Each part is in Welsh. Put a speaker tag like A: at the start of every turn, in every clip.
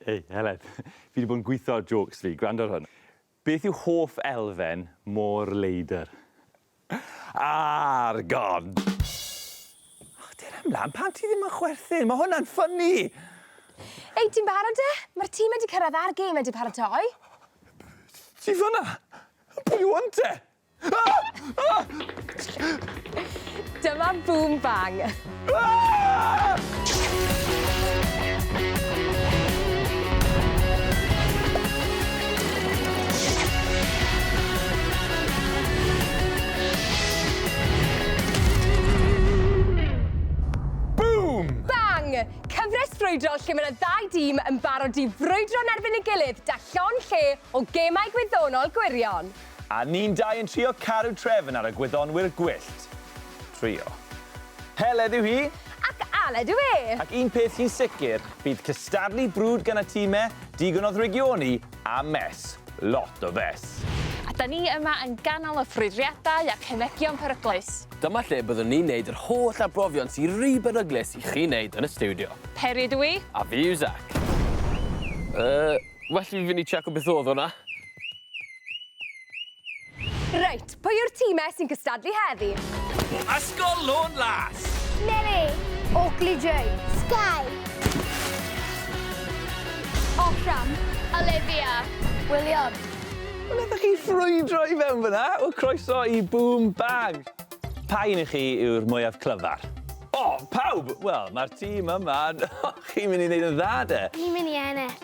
A: Hei, Helen. Fi 'di bod yn gwitho ar jôcs fi. Gwrando ar hwn. Beth yw hoff elfen mor leidr? Argon! O, dera mlan, pam ti ddim yn chwerthin? Mae hwnna'n ffynnu! Hei,
B: ti'n barod de? Mae'r tîm wedi cyrraedd a'r gêm wedi paratoi.
A: Ti fanna? Pwy yw hwn te?
B: Dyma Boom Bang. Boom! Bang! Cyfres frwydrol lle mae yna ddau dîm yn barod i frwydro yn erbyn ei gilydd da llond lle o gemau gwyddonol gwirion. A ni'n dau
A: yn trio caru trefn ar y gwyddonwyr gwyllt. Trio. Heledd yw hi. Ac Aled yw
B: e! Ac un peth sy'n
A: sicr, bydd cystadlu brwd gan y time, digon o ddrygioni, a mess. Lot o fess. A 'da ni yma
C: yn ganol y ffrwydriadau ac henegion peryglus. Dyma lle byddwn ni'n
D: neud yr holl arbrofion sy ry beryglus i chi neud yn y stiwdio. Peri ydw i. A
C: fi yw Zac.
D: Yy, well i fi fynd i tseco beth odd hwnna.
B: Reit, pwy yw'r timau sy'n cystadlu heddi? Ysgol
D: Lôn Las. Mary.
E: Oakley J. Sky. Offram. Olivia. William. Wel, ydych
A: chi ffrwydro i fewn fyna? Wel, croeso i Boom Bag. Pa un i chi yw'r mwyaf clyfar? O, pawb! Wel, mae'r tîm yma... Chi'n mynd i wneud yn dda, de? Ni'n mynd i ennill.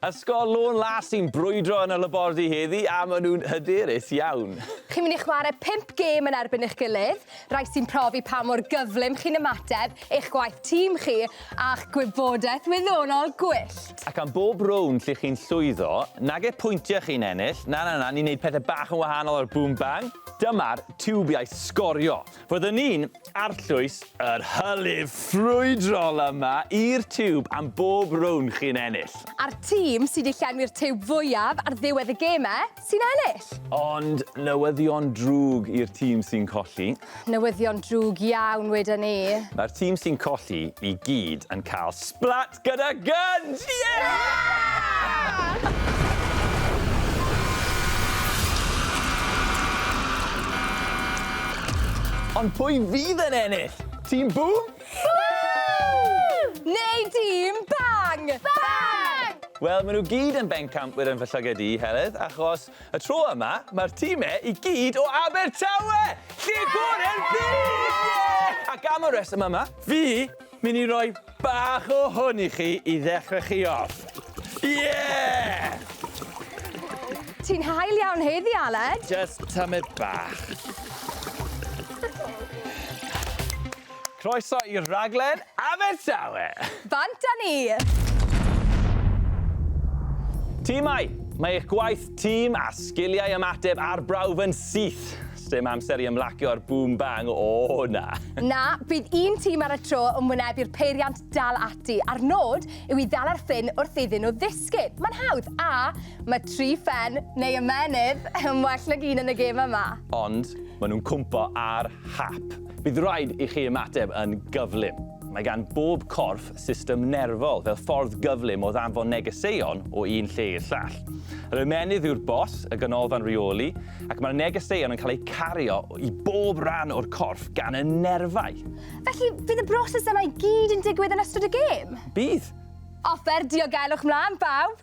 A: Ysgol Lôn Las sy'n brwydro yn y labordy heddi a maen nhw'n hyderus iawn. Chi'n mynd i chwarae
B: pump gêm yn erbyn eich gilydd, rai sy'n profi pa mor gyflym chi'n ymateb, eich gwaith tîm chi a'ch gwybodaeth wyddonol gwyllt. Ac am bob rownd
A: lle chi'n llwyddo, nage pwyntiau chi'n ennill, na na na, ni'n neud pethe bach yn wahanol ar Boom Bang. Dyma'r tiwbiau sgorio. Byddwn ni'n arllwys yr hylif ffrwydrol yma i'r tiwb am bob rownd chi'n ennill. A'r tîm sydd
B: wedi llenwi'r tiwb fwyaf ar ddiwedd y gemau sy'n ennill. Ond
A: newyddion drwg i'r tîm sy'n colli. Newyddion drwg
B: iawn, weda ni. Mae'r tîm sy'n
A: colli i gyd yn cael splat! Gyda gynt! Ie! Ond pwy fydd yn ennill? Tîm Bŵm? Bŵm!
B: Neu Tîm Bang? Bang!
E: Wel, maen nhw gyd
A: yn bencampwyr yn fy llyged i, Heledd, achos y tro yma, mae'r timau i gyd o Abertawe! Lle gorau'r byd! Ie! Ac am y rheswm yma, fi Mynd i roi bach o hwn i chi i ddechrau chi off. Yeah!
B: Ti'n hael iawn heddi, Aled. Just tymid
A: bach. Croeso i'r rhaglen Abertawe! Bant â
B: ni!
A: Timau, mae eich gwaith tîm a sgiliau ymateb ar brawf yn syth. Sdim amser i ymlacio'r boom bang, o na! Na, bydd un
B: tîm ar y tro yn wynebu i'r peiriant dal ati, a'r nod yw i ddala'r ffin wrth iddyn nhw ddisgyn. Mae'n hawdd, a mae tri phen, neu ymennydd, yn well nag un yn y gêm yma. Ond maen nhw'n
A: cwmpo ar hap. Bydd rhaid i chi ymateb yn gyflym. Mae gan bob corff system nerfol fel ffordd gyflym o ddanfon negeseuon o un lle i'r llall. Yr ymennydd yw'r bos, y ganolfan reoli, ac mae'r negeseuon yn cael eu cario i bob rhan o'r corff gan y nerfau. Felly, fydd y
B: broses yna i gyd yn digwydd yn ystod y gêm? Bydd!
A: Offer
B: diogelwch mlaen, bawb!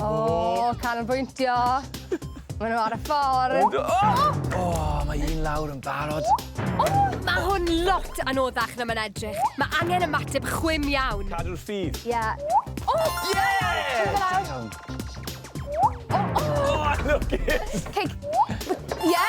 B: O! Canolbwyntio. Ma' n'w ar y ffordd. O! O!
A: Mae un lawr yn barod. O! Ma'
B: hwn lot anoddach na ma'n edrych. Ma' angen ymateb chwim iawn. Cadw'r ffydd. Ie.
A: O! Ie!
B: O! O! O!
A: Lwcus! Cei...
B: Ie!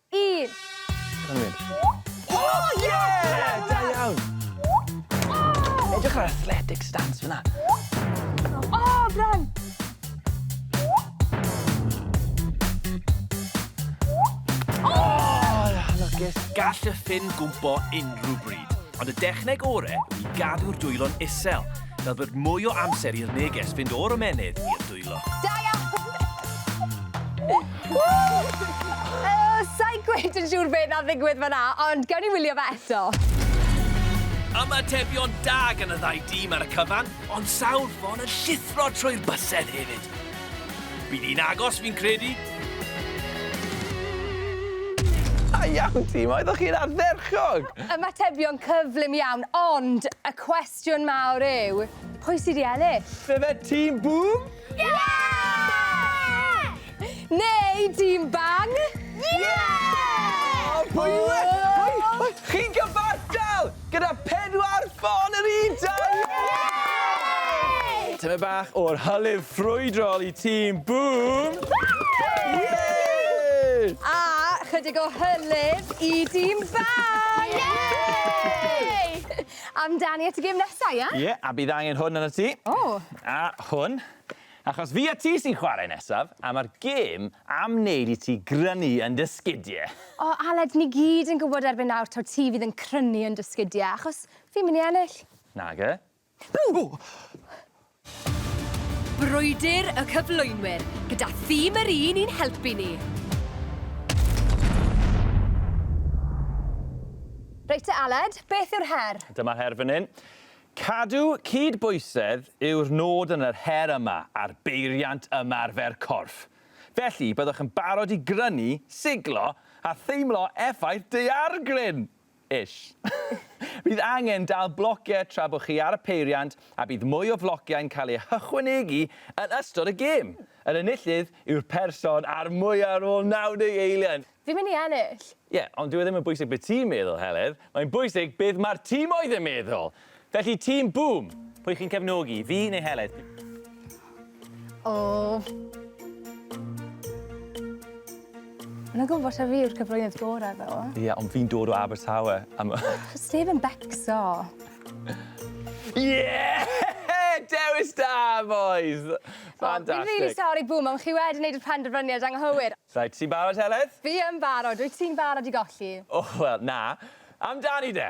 B: Un!
A: Dyna ni. O ie! Da iawn! O! Edrych ar athletic stance fynna. O!
B: Brân!
A: O! Lwcus! Gall y ffin
D: gwmpo unrhyw bryd, ond y dechneg ore yw i gadw'r dwylo'n isel, fel bod mwy o amser i'r neges fynd o'r ymennydd i'r Dwylo. Da
B: iawn! Ww! Sa'i gweud yn siŵr be' nath ddigwydd fan 'na, ond gewn ni wylio fe eto. Ymatebion
D: da gan y ddau dîm ar y cyfan, ond sawl ffon yn llithro trwy'r bysedd hefyd. Bydd hi'n agos, fi'n credu. Da
A: iawn tîm, oeddech chi'n ardderchog! Ymatebion
B: cyflym iawn, ond y cwestiwn Cwestiwn mawr yw, pwy sy' 'di ennill? Ife tîm
A: Bŵm? Ie!
E: Neu
B: tîm Bang? Ie! O!
A: Pwy yw e? Pwy? Pwy? Chi'n gyfartal gyda pedwar ffon yr un tro! Ie! Tyme bach o'r hylif ffrwydrol i tîm Bŵm! Ie! A chydig o
B: hylif i dîm Bang! Ie!
E: Amdani
B: at y gêm nesa, ia? Ie, a bydd angen hwn
A: arnot ti. O! A
B: hwn.
A: Achos fi a ti sy'n chwarae nesaf, a mae'r gêm am wneud i ti grynu yn dy sgidie. O, Aled, ni
B: gyd yn gwybod erbyn nawr taw ti fydd yn crynu yn dy sgidie, achos fi'n mynd i ennill. Nage.
A: Ww!
B: Brwydr y cyflwynwyr, gyda thîm yr un i'n helpu ni! Reit te Aled, beth yw'r her? Dyma'r her fan hyn.
A: Cadw cydbwysedd yw'r nod yn yr her yma ar beiriant ymarfer corff. Felly, byddwch yn barod i grynu, siglo a theimlo effaith daeargryn! Ish. Bydd angen dal blociau tra bod chi ar y peiriant a bydd mwy o flociau'n cael eu hychwanegu yn ystod y gêm. Yr enillydd yw'r person a'r mwyaf ar ôl 90 eiliad. Fi'n mynd i ennill!
B: Ie, ond dyw e ddim yn
A: bwysig be ti'n meddwl, Heledd, mae'n bwysig beth mae'r timoedd yn meddwl! Felly, tîm Bŵm, pwy chi'n cefnogi, fi neu Heledd?
B: O! Mae'n gwybod ta fi yw'r cyflwynydd gorau ddo. Ie, ond fi'n dod o
A: Abertawe. Am... Steve yn
B: becso.
A: Yeah! Dewis da, boys! Fantastic.
B: Fi'n rili sori, Bŵm, ond chi wedi wneud y penderfyniad anghywir. Reit, ti'n barod, Heledd?
A: Fi yn barod. Wyt
B: ti'n barod i golli? O, wel, na.
A: Amdani de!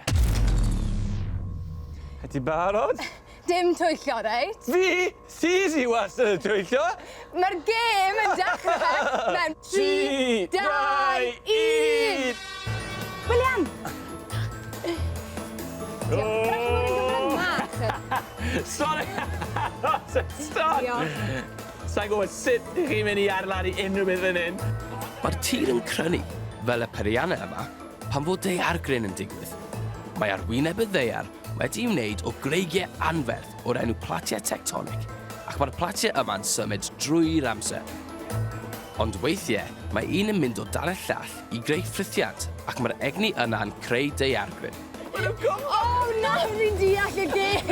A: Ti barod? Dim twyllo,
B: reit? Fi? Ti
A: sy wastad yn twyllo! Mae'r gêm
B: yn dechrau mewn tri, dau, un! William!
A: Sori! Sa i'n gwybod sut dych chi'n mynd i adeiladu unrhyw beth fan hyn! Mae'r tir yn
D: crynu fel y peiriannau yma. Pan fo daeargryn yn digwydd, mae ar wyneb y ddaear wedi'i wneud o greigiau anferth o'r enw platiau tectonic ac mae'r platiau yma'n symud drwy'r amser. Ond weithiau mae un yn mynd o dan y llall i greu ffrithiant ac mae'r egni yna'n creu daeargryn. O!
B: Nawr fi'n deall y gêm!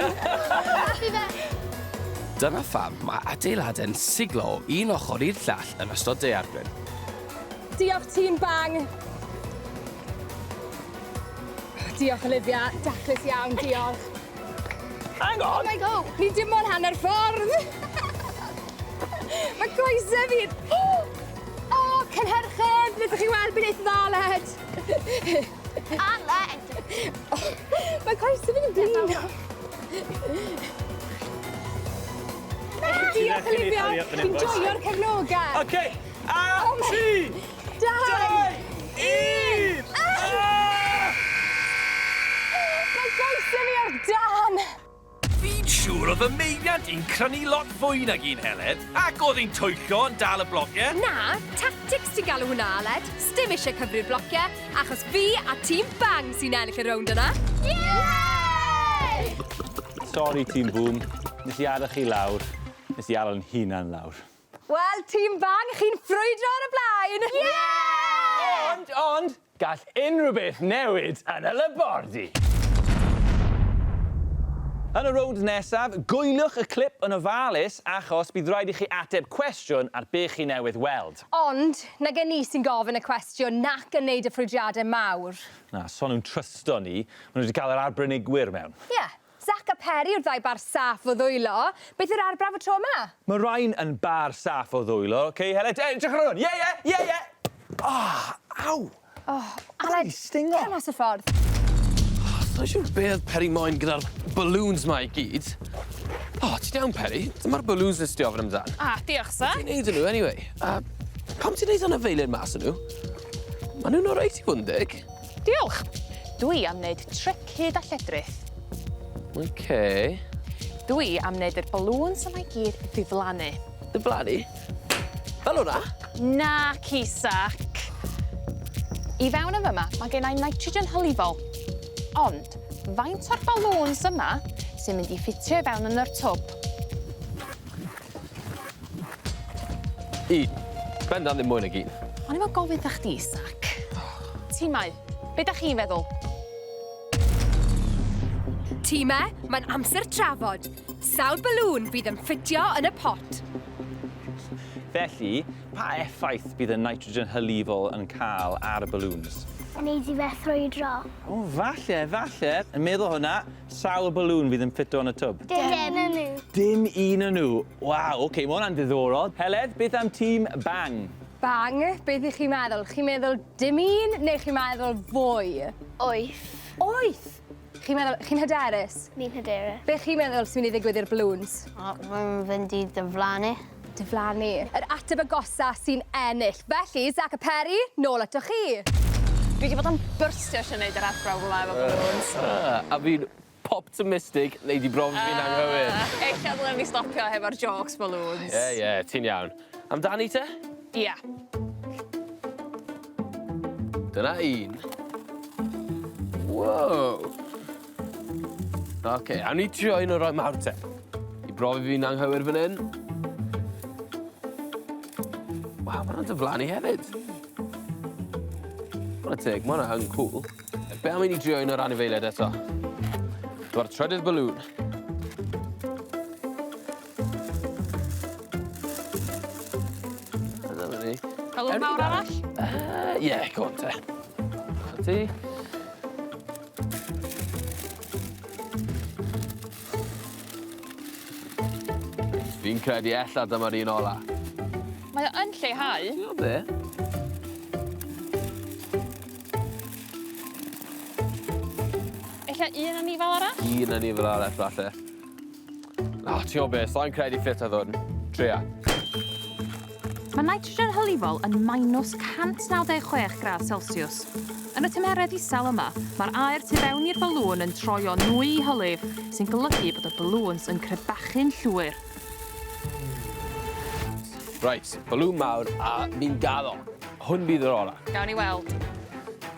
D: Dyna pham mae adeiladau'n siglo o un ochr i'r llall yn ystod daeargryn. Diolch
B: tîm Bang! Diolch Olivia, daclus iawn, diolch. Hang
A: on! Oh my god, ni dim ond
B: hanner ffordd! Mae coesau fi... O, oh, cynhyrchydd, ydych chi'n weld beth dda, led? A led!
E: Mae
B: coesau fi'n blin. Diolch, Olivia. Fi'n joio'r cefnogau. OK. A!
A: Tri! Dau! Un! Mae
B: llais
D: gen i ar
B: dân! Fi'n
F: siŵr oedd y meibiant yn crynu lot fwy nag un Heledd, ac oedd hi'n twyllo yn dal y blociau! Na, tactics
B: ti'n galw hwnna, Aled. Sdim eisiau cyfri'r blociau, achos fi a tîm Bang sy'n ennill y rownd yna! Yay!
A: Sori, tîm Bŵm. Nes i addo chi lawr. Nes i addo'n hunan lawr. Wel, tîm
B: bang, chi'n ffrwydro ar y blaen! Ie! Ond, ond,
A: gall unrhyw beth newid yn y labordy! Yn y rownd nesaf, gwyliwch y clip yn ofalus achos bydd rhaid i chi ateb cwestiwn ar be chi newydd weld. Ond, nag e
B: ni sy'n gofyn y cwestiwn nac yn neud y ffrwydriade mawr. Na, so nhw'n
A: trysto ni. Maen nhw wedi cael yr arbenigwyr mewn. Ie. Zac a
B: Peri yw'r ddau bar saff o ddwylo. Beth yw'r arbrawf y tro yma? Mae Ryan yn
A: bar saff o ddwylo. Ok, Heledd, e, edrych ar hwn! Ie, ie, ie, ie! Oh, aw! Oh,
B: Aled, wedi stingo. cer mas o'r
A: ffordd.
B: Oh, sai'n
D: siŵr be oedd Peri moyn gyda'r balloons ma i gyd. Oh, ti'n iawn, Peri? Dyma'r balloons nes di ofyn amdan. Ah, diolch, sir. Ti'n neud
C: nhw, anyway. Uh,
D: pam ti'n neud hwnna feiled mas o nhw? Mae nhw'n o'r reit i fod yn deg. Diolch!
C: Dwi am wneud trip hyd a lledrith. Ok.
D: Dwi
C: am wneud yr balloons yma i gyd ddiflannu. Diflannu?
D: Fel hwnna? Naci,
C: Zac. I fewn yn fyma, mae gen i nitrogen hylifol. Ond, faint o'r balloons yma sy'n mynd i ffitio i fewn yn yr twb?
D: Un. Bendant ddim mwy nag un. O'n i mo'n gofyn 'tha chdi,
C: Zac. Timau, be' 'dach chi'n feddwl?
B: Time, mae'n amser trafod. Sawl balŵn fydd yn ffitio yn y pot? Felly,
A: pa effaith bydd y nitrogen hylifol yn cael ar y balŵns? Yn neud i fe
E: ffrwydro. O, falle,
A: falle. Yn meddwl hwnna, Sawl balŵn fydd yn ffito yn y twb? Dim un o nhw.
E: Dim un o nhw.
A: Waw, oce, mae hwnna'n ddiddorol. Heledd, beth am tîm Bang? Bang,
B: beth ych chi'n meddwl? Chi'n meddwl dim un neu chi'n meddwl fwy? Wyth.
E: Wyth?
B: Chi'n meddwl... Chi'n hyderus? Fi'n hyderus. Be
E: chi'n meddwl sy'n mynd i
B: ddigwydd i'r balŵns? Mae'n mynd
E: i diflannu. diflannu.
B: Yr ateb agosa sy'n ennill. Felly, Zac a Peri, nôl atoch chi. Dwi 'di bod
C: yn byrstio isio neud yr athrawon gwla efo balŵns. A fi'n
D: poptimistig wnei di bron fi'n anghywir. Ella ddylen ni
C: stopio hefo'r jôcs balŵns. Ie, ie, ti'n iawn.
D: Amdani te? Ia. Dyna un. Wow! Ok, awn ni trio un o'r rhai mawr te. I brofi fi'n anghywir fan hyn. Waw, mae'n dyflanu hefyd. Mae'n y teg, mae'n yn cool. Be am i ni drio un o'r anifeiliaid eto? Dyma'r trydydd balŵn. Hello, mawr arall? Ie,
C: uh, yeah,
D: go on te. Ti? Fi'n credu ella dyma'r un ola. Mae o
C: yn lleihau. Ti'n gwybod be? Ella un anifail arall? Un anifail arall
D: falle. O, ti'n gwybod beth, sa'n credu ffit oedd hwn. Tria.
C: Mae nitrogen hylifol yn minus 196 gradd Celsius. Yn y tymheredd isel yma, mae'r aer tu fewn i'r balŵn yn troi o nwy i hylif, sy'n golygu bod y balŵns yn crebachu'n llwyr.
D: Reit, balŵn mawr a ni'n gaddo. Hwn bydd yr orau. Gawn ni weld.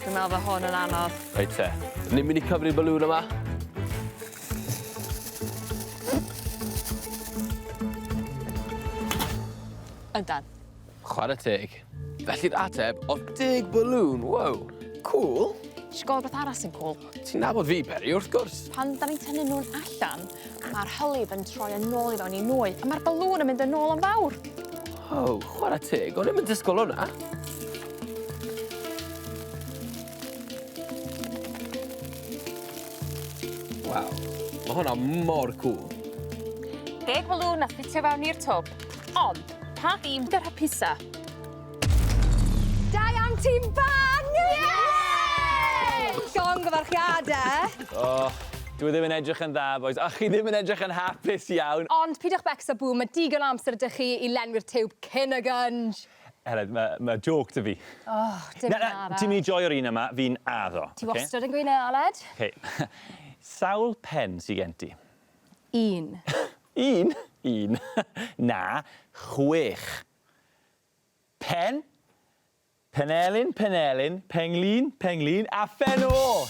C: Dwi'n meddwl bod hwn yn anodd. Reit te. Ni'n
D: mynd i cyfri'r balŵn yma.
C: Yndan. Chwarae
D: teg. Felly'r ateb oedd deg balŵn, wow, cŵl. Ti isio gweld rhywbeth
C: arall sy'n cŵl? Ti'n nabod fi, Peri,
D: wrth gwrs. Pan da ni'n tynnu nhw'n
C: allan, mae'r hylif yn troi yn ôl i fewn i nwy, a mae'r balŵn yn mynd yn ôl yn fawr. O, oh,
D: chwarae teg, o'n i'n mynd disgwyl hwnna. Waw, mae hwnna mor cool.
C: Deg balŵn a ffitio fewn i'r twb. Ond, pa ddim dy rhapusa?
B: Da iawn tîm bân! Llongyfarchiadau! O,
A: dyw e ddim yn edrych yn dda bois, a chi ddim yn edrych yn hapus iawn. Ond pidwch becso
B: Bŵm, mae digon o amser 'da chi i lenwi'r tiwb cyn y gynj! Aled, ma' ma'
A: jôc 'da fi. O, dim un arall.
B: Na, na, ti'n mynd i joio'r un yma,
A: fi'n addo. Ti wastad yn gweud 'na,
B: Aled. Ok,
A: sawl pen sy gen ti? Un.
B: Un?
A: Un? Na, chwech. Pen, Penelin, Penelin, Penglin, Penglin a phen o!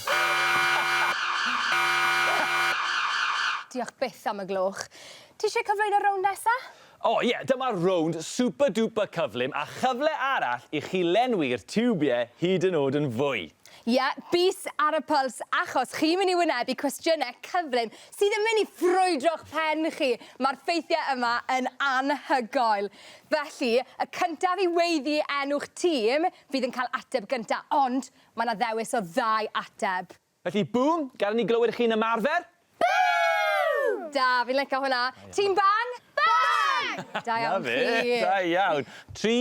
B: Diolch byth am y gloch. Ti eisiau cyflwyno y rownd nesa? O ie, dyma'r
A: rownd super duper cyflym a chyfle arall i chi lenwi'r tiwbie hyd yn od yn fwy. Ie, bys
B: ar y pwls achos chi'n mynd i wynebu cwestiyne cyflym sydd yn mynd i ffrwydro'ch pen chi. Mae'r ffeithiau yma yn anhygoel. Felly, y cyntaf i weiddi enw'ch tîm fydd yn cael ateb gynta, ond mae 'na ddewis o ddau ateb. Felly, Bŵm,
A: gad i ni glywed chi'n ymarfer. Bŵm!
B: Da, fi'n licio hwnna. Tîm Bang? Bang! Da iawn chi. 'Na fe, da iawn.
A: Tri,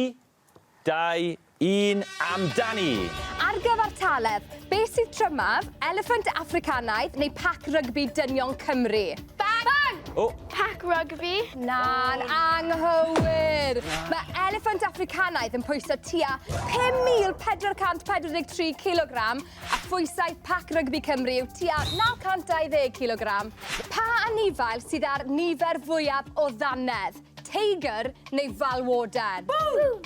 A: 2, 1, amdani! Ar
B: gyfartaledd, beth sydd trymaf, eliffant Affricanaidd neu pac rygbi dynion Cymru? Bang! Bang! O! Pac rygbi?
E: Na'n
B: anghywir! Mae eliffant Affricanaidd yn pwyso tua 5,443 cilogram a phwysau pac rygbi Cymru yw tua 920 cilogram. Pa anifail sydd â'r nifer fwyaf o ddannedd? Teigar neu falwodan? Bŵm!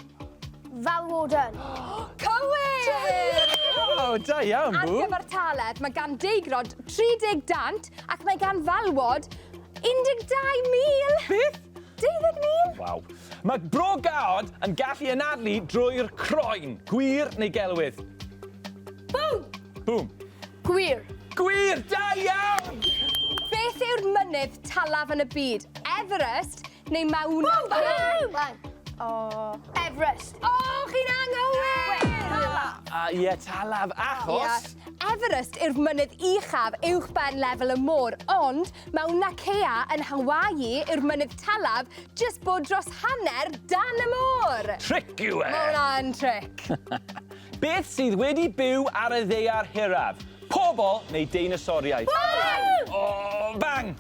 B: Falwodan.
E: Cywir!
B: O,
A: da iawn, Bŵm! Ar gyfer Taleb, mae
B: gan Deigrod 30 dant ac mae gan Falwod 12,000! Beth?
A: 12,000!
B: Waw. Mae
A: bro gaod yn gallu anadlu drwy'r croen. Gwir neu gelwydd?
B: Bŵm! Bŵm.
A: Gwir!
E: Gwir! Da
A: iawn! Beth
B: yw'r mynydd talaf yn y byd? Everest neu Mauna Kea? Bang!
E: O! Everest! O, chi'n
B: anghywir! Talaf! A, ie,
A: talaf, achos? Everest yw'r
B: mynydd uchaf uwch ben lefel y môr, ond Mauna Kea yn Hawaii yw'r mynydd talaf jyst bod dros hanner dan y môr! Tric yw e! Mae
A: hwnna'n tric!
B: Beth
A: sydd wedi byw ar y ddaear hiraf? Pobl neu deinosoriaid? Bang! O, bang!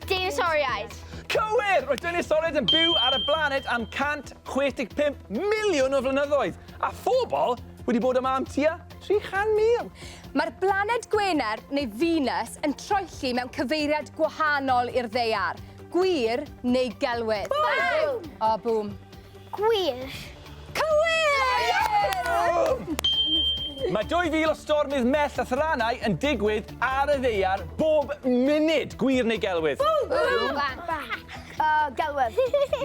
E: Deinosoriaid. Cywir! Roedd
A: deinosoriaid yn byw ar y blaned am 165 miliwn o flynyddoedd, a phobl wedi bod yma am tua 300,000. Mae'r blaned
B: Gwener, neu Venus, yn troelli mewn cyfeiriad gwahanol i'r ddaear. Gwir neu gelwydd? Bang! O, bŵm. Gwir.
E: Cywir!
B: Mae
A: 2000 o stormydd mell a thrannau yn digwydd ar y ddeiar bob munud. Gwir neu gelwydd? Uh,
E: gelwydd.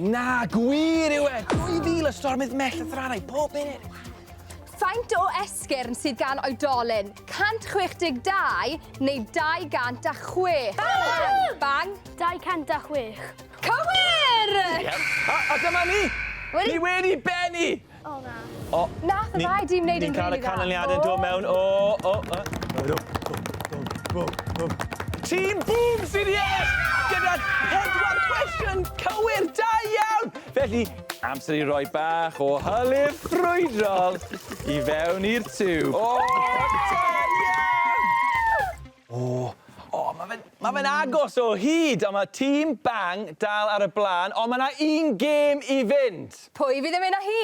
E: Na,
A: gwir yw e. 2000 o stormydd mell a thrannau bob munud. Faint
B: o esgyrn sydd gan oedolyn? 162 neu 206? Bang! Bang!
E: 206. Cywir!
B: A,
A: a dyma ni! Wedi? Ni wedi benni! O, na. O.
E: Nath y ddau dîm
B: wneud yn rili dda. Ni'n cael y canlyniadau yn
A: dod mewn.
B: O,
A: o, o. Bwm, bwm, bwm, bwm. Team Boom sy'n ie! Gyda pedwar cwestiwn cywir, da iawn! Felly, amser i roi bach o hylif ffrwydrol i fewn i'r tiwb. O, da iawn! O! O, ma' fe'n, ma' fe'n agos o hyd! Ond ma' tîm Bang dal ar y blaen, ond ma' 'na un gêm i fynd! Pwy fydd yn mynd â hi?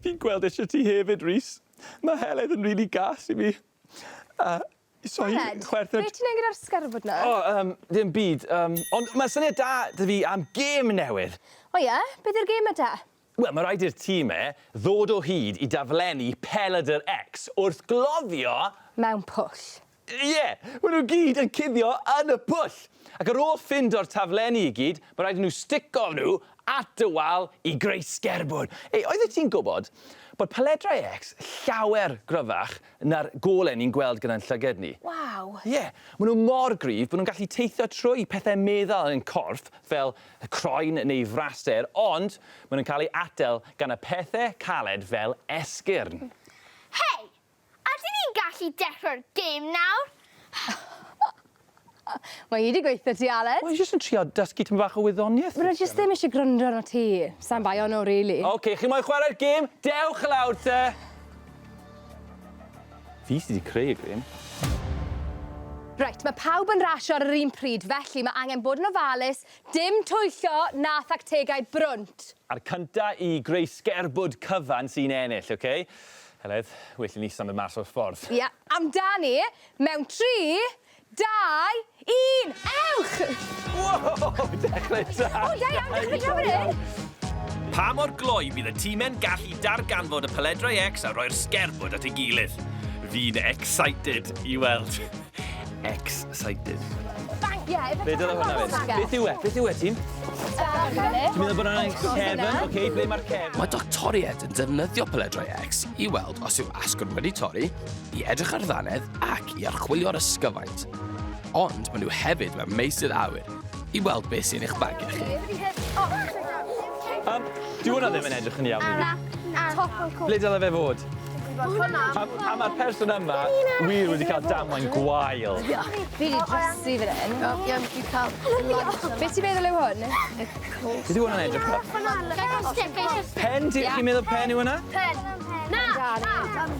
A: Fi'n gweld eisiau ti hefyd, Rhys. Mae Heledd yn rili gas i mi. A
B: so i chwerthin... Heledd, be' ti'n neud gyda'r sgerbwd 'na? O, yym, dim byd,
A: yym, ond ma' syniad da 'da fi am gêm newydd. O ie? Beth yw'r
B: gêm 'ma te? Wel, mae rhaid i'r
A: time ddod o hyd i daflenni peledr X wrth gloddio... Mewn pwll.
B: Ie! Maen
A: nhw gyd yn cuddio yn y pwll! Ac ar ôl ffindo'r taflenni i gyd, mae rhaid i nhw stico nhw at y wal i greu sgerbwd. Hei, oeddet ti'n gwybod bod peledrau X llawer gryfach na'r golau ni'n gweld gyda'n llyged ni? Waw! Ie,
B: maen nhw mor
A: gryf bod nhw'n gallu teithio trwy pethau meddal yn ein corff fel y croen neu fraster, ond maen nhw'n cael eu atal gan y pethe caled fel esgyrn. Hei!
E: Ydyn ni'n gallu dechrau'r gêm nawr?
B: Mae hi 'di gweithio ti, Aled. O'n i jyst yn trio dysgu
A: tipyn bach o wyddoniaeth. Fydde jyst ddim isie gwrando
B: arnot ti. Sai'n bai ohono rili. Oce, chi moyn chwarae'r
A: gêm? Dewch lawr te! Fi sydd wedi creu y grym.
B: Reit, mae pawb yn rasio ar yr un pryd, felly mae angen bod yn ofalus, dim twyllo na thactegau brwnt! A'r cynta i
A: greu sgerbwd cyfan sy'n ennill, ok? Heledd, well i ni symud mas o'r ffordd. Ie, amdani,
B: mewn tri, Dau, un, ewch! Wow!
A: Dechrau da! O, da iawn, dechrau
B: da fan hyn! Pa mor
F: gloi bydd y time'n gallu darganfod y Peledrau X a roi'r sgerbwd at ei gilydd? Fi'n excited i weld. Excited. Thank
B: you. Be dyna hwnna fynd?
A: Beth yw e? Beth yw e, Tim? Ti'n meddwl bod hwnna'n cefn? Oce, ble mae'r cefn? Mae doctoriaid yn
D: defnyddio Peledrau X i weld os yw asgwrn wedi torri i edrych ar ddannedd ac i archwilio'r ysgyfaint. Ond maen nhw hefyd mewn meysydd awyr i weld beth sy'n eich bagio chi. Um,
A: Dwi hwnna ddim yn edrych yn iawn i fi. Ble dylai fe fod? A, a mae'r person yma wir wedi cael damwain gwael. Fi wedi
B: drosi fan hyn. Iawn, fi cael...
E: Be ti'n meddwl
B: yw hwn? Beth yw
A: hwnna'n edrych fel? Pen ti, chi'n meddwl pen yw hwnna? Pen. Na!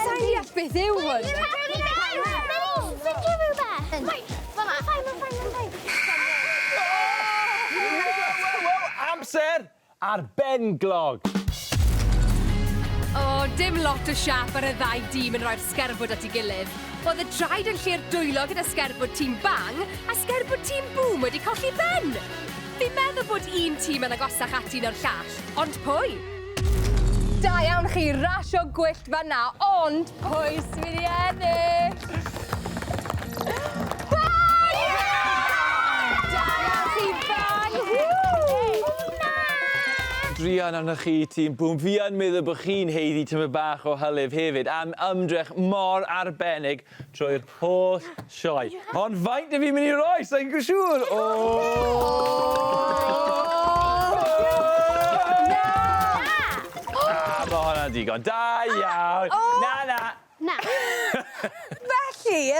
B: Sai'n deall beth yw hwn. Dwi'n ffeindio rhywbeth! Mae'n fine, mae'n
A: fine, mae'n fine. Amser ar benglog!
B: O, dim lot o siâp ar y ddau dîm yn rhoi'r sgerbwd at ei gilydd. Oedd y traed yn lle'r dwylo gyda sgerbwd tîm Bang a sgerbwd tîm Bŵm wedi colli ben! Fi'n meddwl bod un tîm yn agosach ati na'r llall, ond pwy? Da iawn chi, rasio gwyllt fanna, ond pwy sy'n mynd i ennill? Bang! Da iawn chi, Bang!
A: Druan arnoch chi, tîm Bŵm. Fi yn meddwl bod chi'n haeddu tymed bach o hylif hefyd am ymdrech mor arbennig. Trwy'r holl sioe. Ond faint dw i'n mynd i roi? Sa i'n siŵr! O! Mae hwnna'n digon. Da iawn! Na, na! Na.
B: Felly,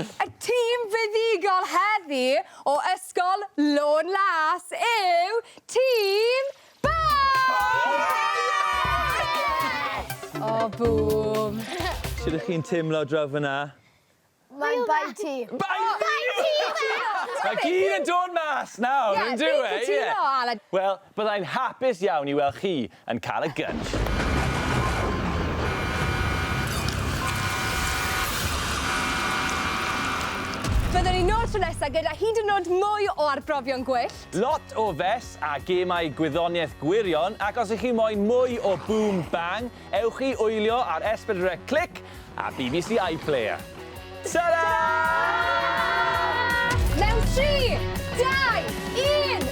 B: y tîm fuddugol heddi o Ysgol Lôn Las yw tîm... O bŵm! Sut ych chi'n
A: teimlo draw fyna? Mae'n
E: bai ti. Bai fi! Bai ti nawr!
A: Mae gyd yn dod mas nawr yn dyw e? Ie, fi'n cytuno Aled. Wel,
B: byddai'n
A: hapus iawn i weld chi yn cael y gynff.
B: Byddwn ni nôl tro nesa gyda hyd yn nod mwy o arbrofion gwyllt. Lot o fes
A: a gemau gwyddoniaeth gwirion ac os ych chi moyn mwy o Boom Bang, ewch i wylio ar S4C Click a bbc iPlayer. Tara! Mewn tri, dau, un!